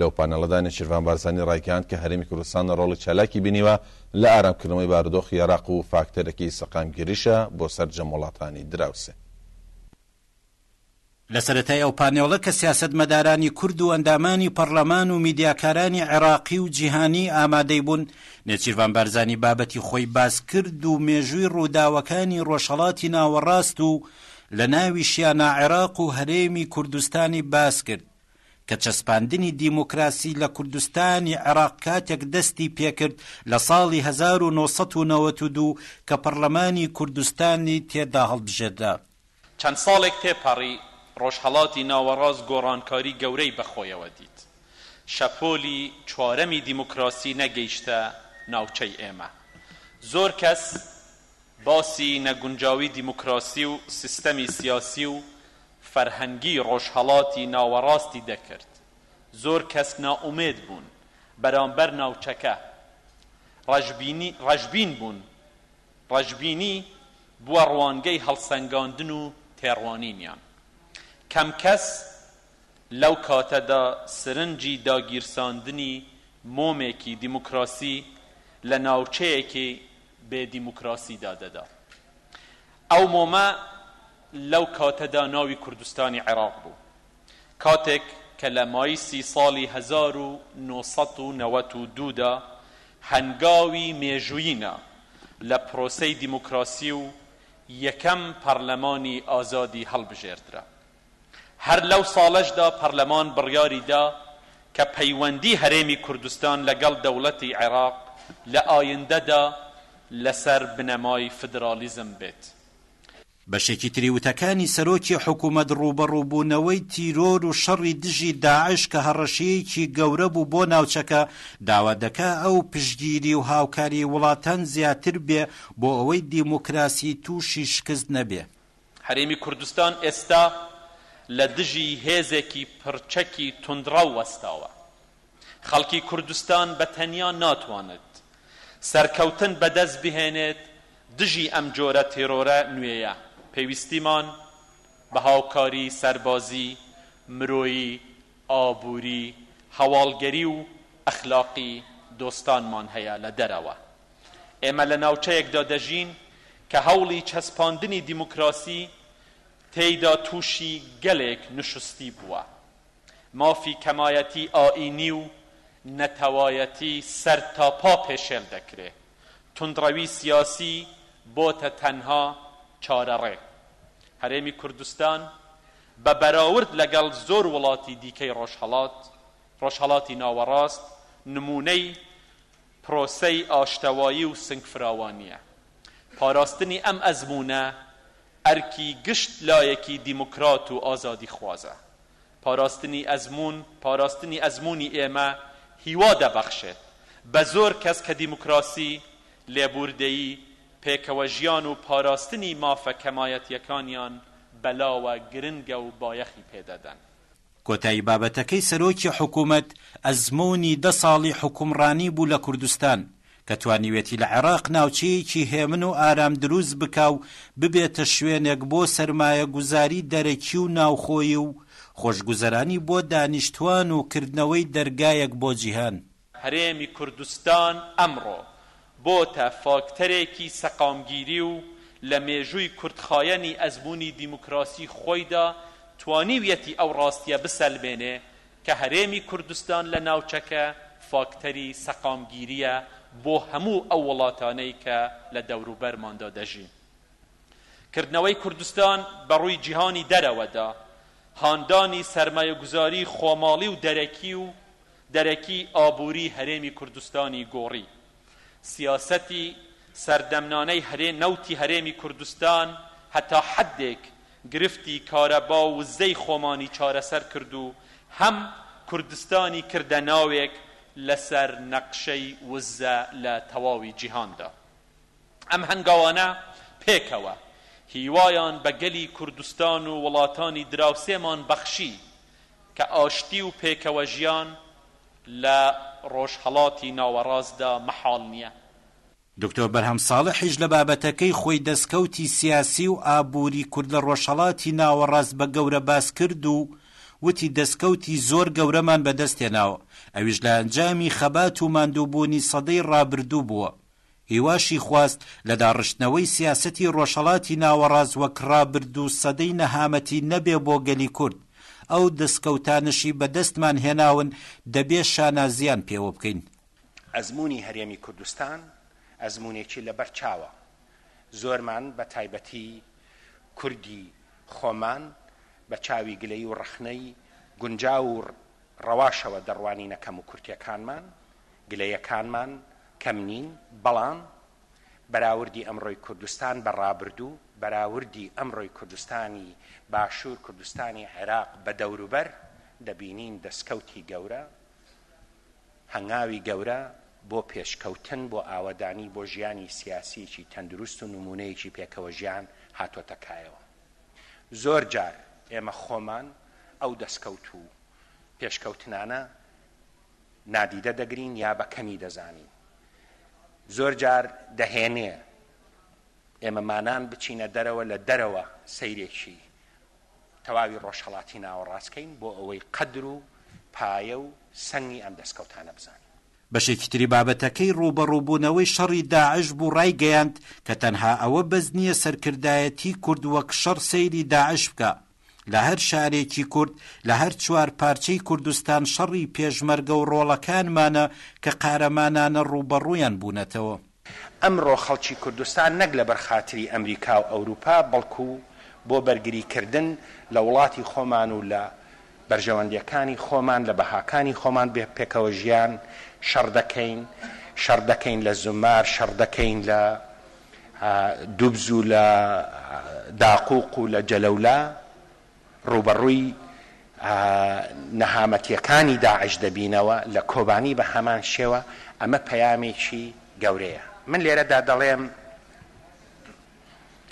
لەو پانێڵەدا نێچیرڤان بارزانی ڕایگەیاند کە هەرێمی کوردستان ڕۆڵی چالاکی بینیوە لە ئارامکردنەوەی بارودۆخی عێراق و فاکتەرێکی سەقامگیریشە بۆ سەرجەم وڵاتانی دراوسێ. لە سەرەتای ئەو پانێڵە کە سیاسەتمەدارانی کورد و ئەندامانی پەڕلەمان و میدیاکارانی عێراقی و جیهانی ئامادەی بوون، نێچیرڤان بارزانی بابەتی خۆی باس کرد و مێژووی ڕووداوەکانی ڕۆژهەڵاتی ناوەڕاست و لە ناویشیانا عێراق و هەرێمی کوردستانی باس کرد. کە چەسپاندنی دیموکراسی لە کوردستانی عێراق کاتێک دەستی پێکرد لە ساڵی هەزار و نۆ سەد و نەوەد و دوو کە پەڕلەمانی کوردستانی تێدا هەڵبژێردرا. چەند ساڵێک تێپەڕی، ڕۆژهەڵاتی ناوەڕاست گۆڕانکاری گەورەی بەخۆیەوە دیت. شەپۆلی چوارەمی دیموکراسی نەگەیشتە ناوچەی ئێمە. زۆر کەس باسی نەگونجاوی دیموکراسی و سیستەمی سیاسی و فەرهەنگی ڕۆژهەڵاتی ناوەڕاستی دەکرد، زۆر کەس نائومێد بوون بەرامبەر ناوچەکە، ڕەشبینی ڕەشبین بوون، ڕەشبینی بووە ڕوانگەی هەڵسەنگاندن و تێڕوانینیان، کەم کەس لەو کاتەدا سرنجی داگیرساندنی مۆمێکی دیموکراسی لە ناوچەیەکی بێ دیموکراسیدا دەدا، ئەو مۆمە لەو کاتەدا ناوی کوردستانی عێراق بوو، کاتێک کە لە مایسی ساڵی هەزار و نۆ سەد و نەوەد و دوو دا هەنگاوی مێژوویی نا لە پرۆسەی دیموکراسی و یەکەم پەڕلەمانی ئازادی هەڵبژێردرا. هەر لەو ساڵەشدا پەڕلەمان بڕیاری دا کە پەیوەندی هەرێمی کوردستان لەگەڵ دەوڵەتی عێراق لە ئایندەدا لەسەر بنەمای فدراڵیزم بێت. بکات. بەشێکی تری وتەکانی سەرۆکی حکومەت ڕووبەڕووبوونەوەی تیرۆر و شەڕی دژی داعش کە هەڕەشەیەکی گەورە بوو بۆ ناوچەکە، داوا دەکا ئەو پشتگیری و هاوکاری وڵاتان زیاتر بێ بۆ ئەوەی دیموکراسی تووشی شکست نەبێ. هەرێمی کوردستان ئێستا لە دژی هێزێکی پڕچەکی توندڕەو وەستاوە. خەڵکی کوردستان بە تەنیا ناتوانێت سەرکەوتن بەدەست بهێنێت دژی ئەم جۆرە تێرۆرە نوێیە، پێویستیمان بە هاوکاری سەربازی، مرۆیی، ئابووری، هەواڵگەری و ئەخلاقی دۆستانمان هەیە لە دەرەوە. ئێمە لە ناوچەیەکدا دەژین کە هەوڵی چەسپاندنی دیموکراسی تێیدا تووشی گەلێک نوشستی بووە. مافی کەمایەتی ئایینی و نەتەوایەتی سەرتاپا پێشێل دەکرێ. توندڕەوی سیاسی بۆتە تەنها چارەڕێ. هەرێمی کوردستان بە بەراورد لەگەڵ زۆر وڵاتی دیکەی ڕۆژهەڵات، ڕۆژهەڵاتی ناوەڕاست نموونەی پرۆسەی ئاشتەوایی و سنگفراوانییە. پاراستنی ئەم ئەزموونە ئەرکی گشت لایەکی دیموکرات و ئازادیخوازە. پاراستنی ئەزموون، پاراستنی ئەزموونی ئێمە هیوا دەبەخشێت بە زۆر کەس کە دیموکراسی، لێبووردەیی، پێکەوەژیان و پاراستنی مافە کەمایەتییەکانیان بەلاوە گرنگە و بایەخی پێدەدەن. کۆتایی بابەتەکەی سەرۆکی حکوومەت ئەزموونی دە ساڵی حوکمڕانی بوو لە کوردستان کە توانیوێتی لە عێراق ناوچەیەکی هێمن و ئارام دروست بکا و ببێتە شوێنێک بۆ سەرمایەگوزاری دەرەکی و ناوخۆیی و خۆشگوزەرانی بۆ دانیشتوان و کردنەوەی دەرگایەک بۆ جیهان. هەرێمی کوردستان ئەمڕۆ بۆتە فاکتەرێکی سەقامگیری و لە مێژووی کورتخایەنی ئەزموونی دیموکراسی خۆیدا توانیویەتی ئەو ڕاستیە بسەلمێنێ کە هەرێمی کوردستان لە ناوچەکە فاکتەری سەقامگیریە بۆ هەموو ئەو وڵاتانەی کە لە دەوروبەرماندا دەژین. کردنەوەی کوردستان بە ڕووی جیهانی دەرەوەدا، هاندانی سەرمایەگوزاری خۆماڵی و دەرەکی و، دەرەکی ئابووری هەرێمی کوردستانی گۆڕی. سیاسەتی سەردەمنانەی هەرێ نەوتی هەرێمی کوردستان هەتا حەدێک گرفتی کارەبا و وزەی خۆمانی چارەسەر کرد و هەم کوردستانی کردە ناوێک لەسەر نەقشەی وزە لە تەواوی جیهاندا. ئەم هەنگاوانە پێکەوە هیوایان بە گەلی کوردستان و وڵاتانی دراوسێمان بەخشی. کە ئاشتی و پێکەوەژیان لە ڕۆژهەڵاتی ناوەڕاستدا مەحاڵ نییە. دکتۆر بەرهەم ساڵحیش لە بابەتەکەی خۆی دەسکەوتی سیاسی و ئابووری کورد لە ڕۆژهەڵاتی ناوەڕاست بە گەورە باس کرد و وتی دەسکەوتی زۆر گەورەمان بەدەستهێناوە، ئەویش لە ئەنجامی خەبات و ماندووبوونی سەدەی ڕابردوو بووە. هیواشی خواست لە داڕشتنەوەی سیاسەتی ڕۆژهەڵاتی ناوەڕاست وەک ڕابرد و سەدەی نەهامەتی نەبێ بۆ گەلی کورد، ئەو دەسکەوتانەشی بە دەستمان هێناون دەبێ شانازییان پێوە بکەین. ئەزموونی هەرێمی کوردستان ئەزموونێکی لە بەر چاوە، زۆرمان بە تایبەتی کوردی خۆمان بە چاوی گلەیی و ڕەخنەی گونجاو و ڕەواشەوە دەڕوانینە کەم و کورتیەکانمان، گلەیەکانمان کەم نین، بەڵام بەراوردی ئەمڕۆی کوردستان بە ڕابردوو، بەراوردی ئەمڕۆی کوردستانی باشوور، کوردستانی عێراق بە دەوروبەر، دەبینین دەستکەوتی گەورە، هەنگاوی گەورە بۆ پێشکەوتن، بۆ ئاوەدانی، بۆ ژیانی سیاسیەکی تەندروست و نموونەیەکی پێکەوەژیان هاتۆتە کایەوە. زۆر جار ئێمە خۆمان ئەو دەستکەوت و پێشکەوتنانە نادیدە دەگرین یا بە کەمی دەزانین زۆر جار دەهێنێ ئێمە مانان بچینە دەرەوە لە دەرەوە سەیرێکی تەواوی ڕۆژهڵاتی ناوەڕاستکەین بۆ ئەوەی قەدر و پایە و سنگی ئەم دەستکەوتانە بزانین بەشێکی تری بابەتەکەی ڕووبەڕووبوونەوەی شەڕی داعش بوو ڕایگەیاند کە تەنها ئەوە بەس نییە سەرکردایەتی کورد وەک شەڕ سەیری داعش بکا لە هەر شارێکی کورد لە هەر چوار پارچەی کوردستان شەڕی پێشمەرگە و ڕۆڵەکانمانە کە قارەمانانە ڕووبەڕوویان بوونەتەوە. ئەمڕۆ خەڵکی کوردستان نەک لەبەر خاتری ئەمریکا و ئەوروپا بەڵکو بۆ بەرگری کردن لە وڵاتی خۆمان و لە بەرژەوەندیەکانی خۆمان لە بەهاکانی خۆمان بێ پێکەوە ژیان شەڕ دەکەین شەڕ دەکەین لە زومار شەڕ دەکەین لە دوبز و لە داقوق و لە جەلەولا ڕووبەڕووی نەهامەتییەکانی داعش دەبینەوە لە کۆبانی بە هەمان شێوە، ئەمە پەیامێکی گەورەیە. من لێرەدا دەڵێم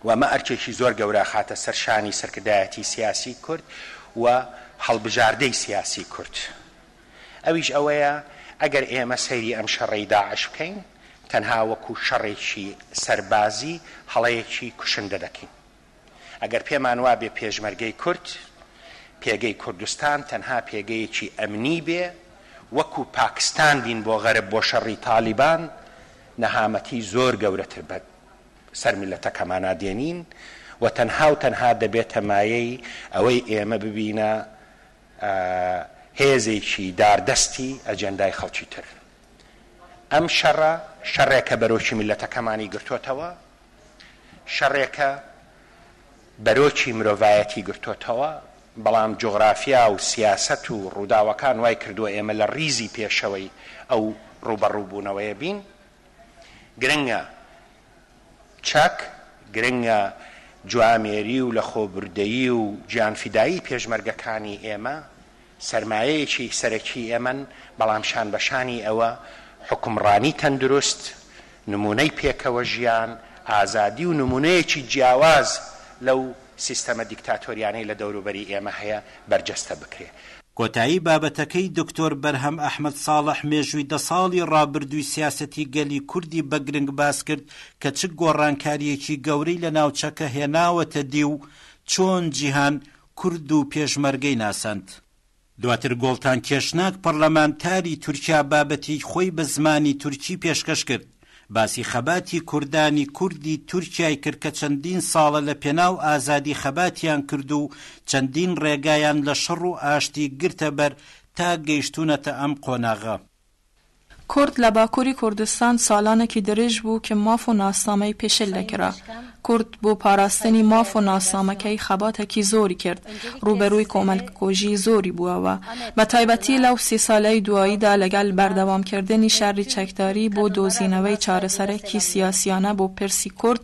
و ئەمە ئەرکێکی زۆر گەورە ئەخاتە سەر شانی سەرکردایەتی سیاسی کورد و هەڵبژاردەی سیاسی کورد، ئەویش ئەوەیە ئەگەر ئێمە سەیری ئەم شەڕەی داعش بکەین، تەنها وەکو شەڕێکی سەربازی هەڵەیەکی کوشندە دەکەین. ئەگەر پێمان وابێ پێشمەرگەی کورد پێگەی کوردستان تەنها پێگەیەکی ئەمنی بێ وەکو پاکستان بین بۆ غەرب بۆ شەڕی تالیبان نەهامەتی زۆر گەورەتر بە سەر میللەتەکەمانا دێنین و تەنها و تەنها دەبێتە مایەی ئەوەی ئێمە ببینە هێزێکی داردەستی ئەجێندای خەڵکی تر ئەم شەڕە شەڕێکە بەرۆکی میللەتەکەمانی گرتۆتەوە شەڕێکە بەرۆکی مرۆڤایەتی گرتۆتەوە، بەڵام جوغرافیا و سیاسەت و ڕووداوەکان وای کردووە ئێمە لە ڕیزی پێشەوەی ئەو ڕووبەڕووبوونەوەیە بین. گرنگە چەک، گرنگە جوامێری و لەخۆبوردەیی و گیانفیدایی پێشمەرگەکانی ئێمە سەرمایەیەکی سەرەکی ئێمەن، بەڵام شان بە شانی ئەوە، حوکمڕانی تەندروست، نموونەی پێکەوە ژیان، ئازادی و نموونەیەکی جیاواز لەو سیستەمە دیکتاتۆریانەی لە دەوروبەری ئێمە هەیە، بەرجەستە بکرێ. کۆتایی بابەتەکەی دکتۆر بەرهەم ئەحمەد ساڵح مێژووی دە ساڵی ڕابردووی سیاسەتی گەلی کوردی بە گرنگ باس کرد کە چ گۆڕانکارییەکی گەورەی لە ناوچەکە هێناوەتە دی و چۆن جیهان کورد و پێشمەرگەی ناساند. دواتر گۆڵتان کێشناک پەڕلەمانتاری تورکیا بابەتی خۆی بە زمانی تورکی پێشکەش کرد، باسی خەباتی کوردانی کوردی تورکیای کرد کە چەندین ساڵە لە پێناو ئازادی خەباتیان کرد و چەندین ڕێگایان لە شەڕ و ئاشتی گرتە بەر تا گەیشتوونەتە ئەم قۆناغە. کورد لە باکوری کوردستان سالانەکی درێژ بوو کە ماف و ناسنامەی پێشێل دەکرا. کورد بۆ پاراستنی ماف و ناسنامەکەی خەباتەکی زۆری کرد، روبەروی کۆمەلککوژی زۆری بوەوە. بە تایبەتی لەو سی سالەی دواییدا لەگەل بەردەوام کردنی شەری چەکداری بۆ دۆزینەوەی چارەسەرەکی سیاسیانە بۆ پرسی کورد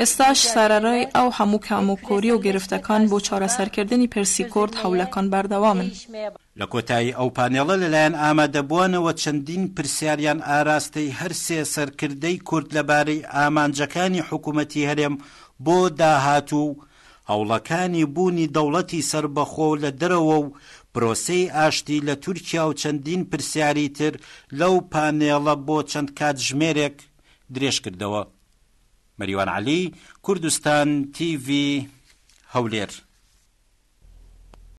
ئێستاش سەرەڕای ئەو هەموو کام و کۆری و گرفتەکان بۆ چارەسەرکردنی پرسی کورد هەوڵەکان بەردەوامن. لە کۆتایی ئەو پانێڵە لەلایەن ئامادەبووانەوە چەندین پرسیاریان ئاراستەی هەر سێ سەرکردەی کورد لەبارەی ئامانجەکانی حکوومەتی هەرێم بۆ داهاتوو و هەوڵەکانی بوونی دەوڵەتی سەربەخۆ لە دەرەوە و پرۆسەی ئاشتی لە تورکیا و چەندین پرسیاری تر لەو پانێڵە بۆ چەند کاتژمێرێک درێژکردەوە. مەریوان عەلی، کوردستان تیڤی، هەولێر.